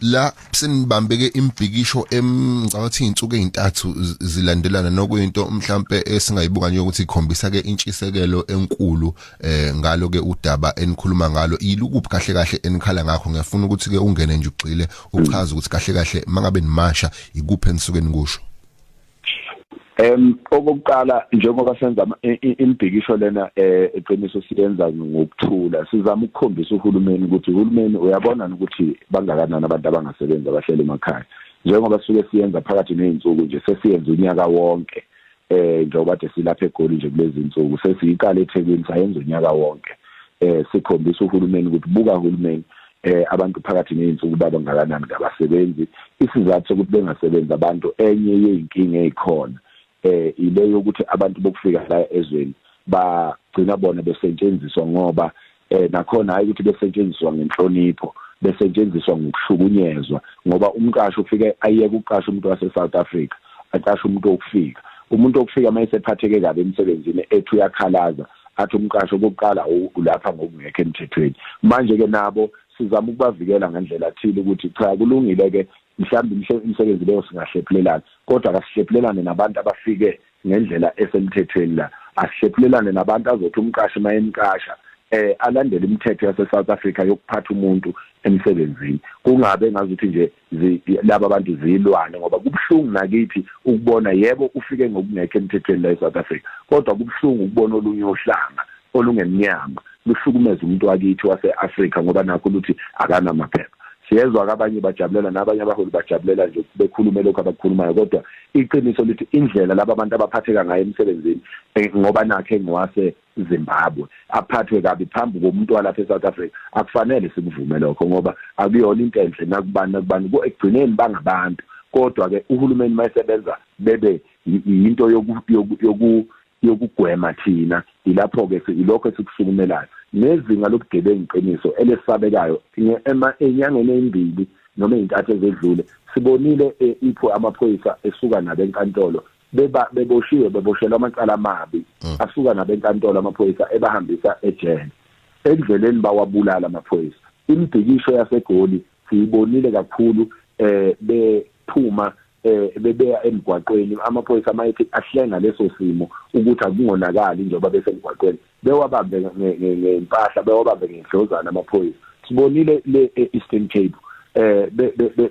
la senibambeke imbhikisho emngicabanga ukuthi insuku ezintathu zilandelana nokuyinto mhlambe esingayibuka nje ukuthi ikhombisa ke intshisekelo enkulu eh ngalo ke udaba enikhuluma ngalo ilukuphi kahle kahle enikhala ngakho ngiyafuna ukuthi ke ungene nje ugxile uchaze ukuthi kahle kahle mangabe nimasha ikuphi enisuke nikusho Em okokuqala njengoba senza imibhikisho lena eh, eqiniso siyenza ngokuthula sizama ukukhombisa uhulumeni ukuthi uhulumeni uyabona ukuthi bangakanani abantu abangasebenzi abahleli emakhaya njengoba sisuke siyenza phakathi nezinsuku nje sesiyenza unyaka wonke eh njengoba de silapha egoli nje kulezi insuku sesiyiqala eThekwini sayenza unyaka wonke eh sikhombisa uhulumeni ukuthi buka uhulumeni eh abantu phakathi nezinsuku baba ngakanani ngabasebenzi isizathu sokuthi bengasebenzi abantu enye yeyinkinga ezikhona eh ile yokuthi abantu bokufika la ezweni bagcina bona besetshenziswa ngoba eh nakhona hayi ukuthi besetshenziswa ngenhlonipho besetshenziswa ngokushukunyezwa ngoba umqashi ufike ayeke uqasha umuntu wase South Africa aqasha umuntu okufika umuntu okufika mayesephatheke kabi emsebenzini ethi uyakhalaza athi umqasho okokuqala ulapha ngokungekho emthethweni manje ke nabo sizama ukubavikela ngendlela thile ukuthi cha kulungile ke mhlawumbe imisebenzi leyo singahlephulelana kodwa kasihlephulelane nabantu abafike ngendlela esemthethweni la asihlephulelane nabantu azothi umqashi mayemqasha eh alandele imithetho yase South Africa yokuphatha umuntu emsebenzini kungabe ngazuthi nje laba bantu zilwane ngoba kubuhlungu nakithi ukubona yebo ufike ngokungekho emthethweni la eSouth Africa kodwa kubuhlungu ukubona olunye uhlanga olungemnyama luhlukumeza umuntu wakithi wase-Africa ngoba nakho luthi akanamaphepha siyezwa kabanye bajabulela nabanye abaholi bajabulela nje bekhulume lokho abakukhulumayo kodwa iqiniso lithi indlela laba bantu abaphatheka ngayo emsebenzini eh, ngoba nakhe ngwase Zimbabwe aphathwe kabi phambi komuntu walapha eSouth Africa akufanele sikuvume lokho ngoba akuyona into enhle nakubani nakubani ekugcineni bangabantu kodwa ke uhulumeni mayesebenza bebe yinto yoku yokugwema thina ilapho ke ilokho esikusukumelayo nezinga lobugebengu iqiniso elesabekayo enyangeni ezimbili noma izintathu ezedlule sibonile eh, ipho amaphoyisa esuka nabenkantolo beba beboshiwe beboshelwa amacala amabi mm. asuka nabenkantolo amaphoyisa ebahambisa ejele endleleni bawabulala amaphoyisa imibhikisho yasegoli siyibonile kakhulu eh bephuma eh bebeya emgwaqweni amaphoyisa amayethe ahlenga leso simo ukuthi akungonakali njengoba besemgwaqweni bewabambe ngempahla bewabambe ngendlozana amaphoyisa sibonile le Eastern Cape eh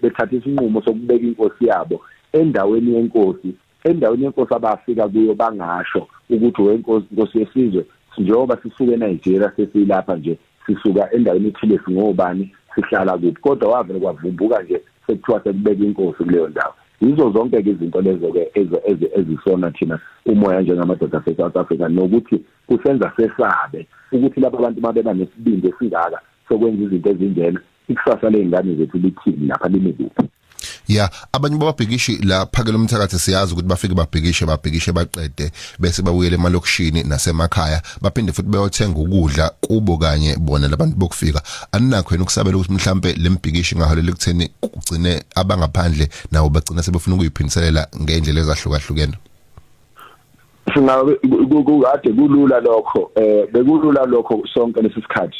bethatha isinqumo sokubeka inkosi yabo endaweni yenkosi endaweni yenkosi abafika kuyo bangasho ukuthi wenkosi inkosi yesizwe njengoba sisuke eNigeria sesilapha nje sisuka endaweni ethile singobani sihlala kuphi kodwa wavele kwavumbuka nje sekuthiwa sekubeka inkosi kuleyo ndawo yizo zonke-ke izinto lezo-ke ezisona thina umoya njengamadoda ase-south africa nokuthi kusenza sesabe ukuthi laba bantu uma beba nesibindi esingaka sokwenza izinto ezinjena ikusasa ley'ngane zethu lithini lapha limi kuphi ya abanye bababhikishi la phakela umthakathi siyazi ukuthi bafike babhikishe babhikishe baqede bese babuyele emalokishini nasemakhaya baphinde futhi beyothenga ukudla kubo kanye bona labantu bokufika aninakho yena ukusabela ukuthi mhlambe lembhikishi ngaholela ekutheni kugcine abangaphandle nawo bagcina sebefuna ukuyiphindiselela ngendlela ezahlukahlukene singabe kukade kulula lokho eh bekulula lokho sonke lesisikhathi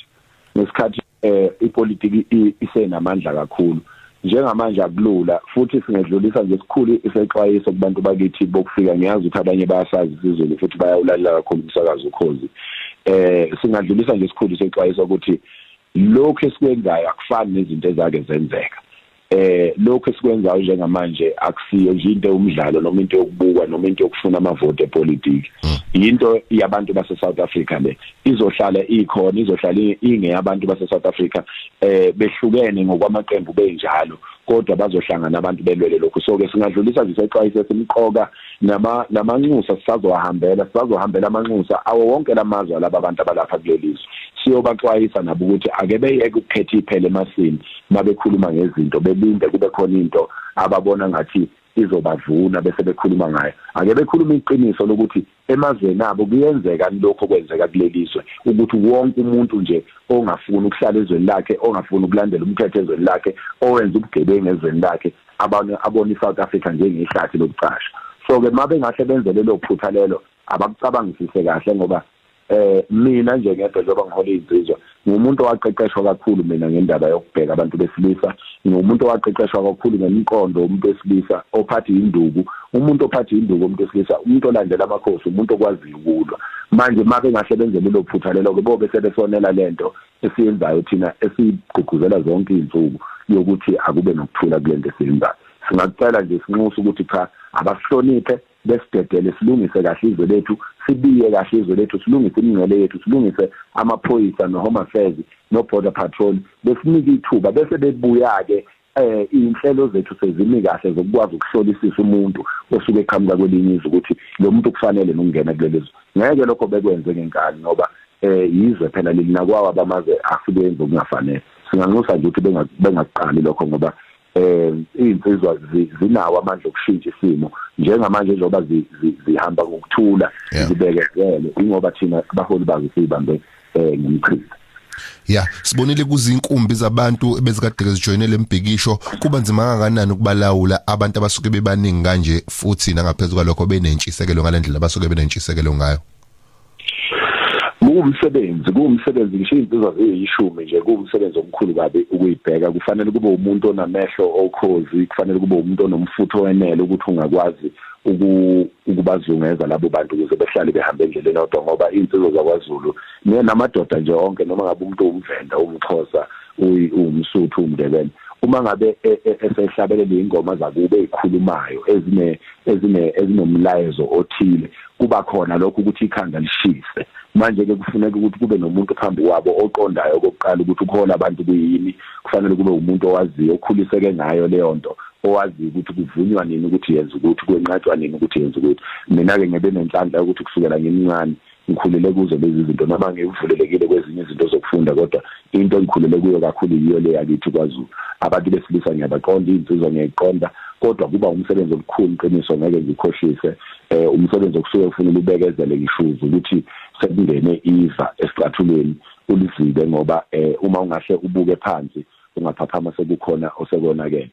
ngesikhathi eh ipolitiki isenamandla kakhulu njengamanje akulula futhi singedlulisa nje sikhulu isexwayiso kubantu bakithi bokufika ngiyazi ukuthi abanye bayasazi isizulu futhi bayawulalela kakhulu umsakazo ukhozi eh singadlulisa nje sikhulu isexwayiso ukuthi lokho esikwenzayo akufani nezinto ezake zenzeka eh lokho esikwenzayo njengamanje akusiyo nje into umdlalo noma into yokubukwa noma into yokufuna amavote epolitiki hmm. yinto yabantu base South Africa le izohlala ikhona izohlala ingeyabantu base South Africa eh behlukene ngokwamaqembu benjalo kodwa bazohlangana abantu belwele lokho so ke singadlulisa nje sexwayiso esimqoka nama namanxusa sisazohambela sisazohambela amanxusa awo wonke lamazwe laba abantu abalapha kulelizwe siyobaxwayisa nabo ukuthi ake beyeke ukukhetha iphele emasini mabekhuluma ngezinto belinde kube khona into ababona ngathi izobavuna bese bekhuluma ngayo ake bekhuluma iqiniso lokuthi emazweni abo kuyenzeka lokho kwenzeka kulelizwe ukuthi wonke umuntu nje ongafuni ukuhlala ezweni lakhe ongafuni ukulandela umthetho ezweni lakhe owenza ubugebengu ezweni lakhe abanye abona iSouth Africa njengehlathi lokucasha so ke mabengahle benze lelo phutha lelo abakucabangisise kahle ngoba eh mina nje ngedwa njengoba ngihola izinsizwa ngumuntu owaqeqeshwa kakhulu mina ngendaba yokubheka abantu besilisa ngumuntu owaqeqeshwa kakhulu ngemiqondo umuntu wesilisa ophatha induku umuntu ophatha induku umuntu wesilisa umuntu olandela amakhosi umuntu okwaziyo ukulwa manje make ngasebenze lelo phutha lelo ke bobe sebesonela lento esiyenzayo thina esigqugquzela zonke izinsuku yokuthi akube nokuthula kulento esiyenzayo singakucela nje sinxusa ukuthi cha abasihloniphe besidedele silungise kahle izwe lethu sibiye kahle izwe lethu silungise imingcele yethu silungise amaphoyisa no-home affairs no-border patrol besinike ithuba bese bebuya-ke eh inhlelo zethu sezimi kahle zokukwazi ukuhlolisisa umuntu osuke eqhamuka kwelinye izwe ukuthi lo muntu kufanele nokungena kuleli zwe ngeke lokho bekwenze ngenkani ngoba eh yizwe phela leli nakwawa bamaze asebenze okungafanele singanxusa nje ukuthi bengakuqali lokho ngoba um iy'nsizwa zinawo amandla okushintsha isimo njengamanje njengoba zihamba ngokuthula zibekezele ingoba thina abaholi bazo siyibambe um eh, ngomchitha ya sibonile kuzinkumbi zabantu ebezikade zijoyine lembhikisho kuba nzima kangakanani ukubalawula abantu abasuke bebaningi kanje futhi nangaphezulu kwalokho benentshisekelo ngalendlela abasuke benentshisekelo ngayo kuwumsebenzi kuwumsebenzi ngisho izinsizwa ziyishumi nje kuwumsebenzi omkhulu kabi ukuyibheka kufanele kube umuntu onamehlo okhozi kufanele kube umuntu onomfutho wenele ukuthi ungakwazi ukubazungeza labo bantu ukuze behlale behambe endleleni odwa ngoba izinsizwa zakwaZulu namadoda nje onke noma ngabe umuntu umvenda umxhosa uwumsuthu umndebele uma ngabe e, e, esehlabelela ingoma zakube ezikhulumayo ezine ezine ezinomlayezo othile kuba khona lokho ukuthi ikhanda lishise manje-ke kufuneka ukuthi kube nomuntu phambi kwabo oqondayo okokuqala ukuthi ukuhola abantu kuyini kufanele kube umuntu owaziyo okhuliseke ngayo leyo nto owaziyo ukuthi kuvunywa nini ukuthi yenza ukuthi kwenqatshwa nini ukuthi yenza ukuthi mina-ke ngebe nenhlanhla yokuthi kusukela ngimncane ngikhulele kuzo lezi zinto noma ngivulelekile kwezinye izinto zokufunda kodwa into engikhulele kuyo kakhulu yiyo le yakithi kwazulu abantu besilisa ngiyabaqonda iy'nsizwa ngiyayiqonda kodwa kuba umsebenzi omkhulu qiniso ngeke ngikhohlise eh umsebenzi okusuke kufanele ubekezele ngishuzi ukuthi sekungene iva esicathulweni ulizibe ngoba eh uma ungahle ubuke phansi ungaphaphama sekukhona osekonakele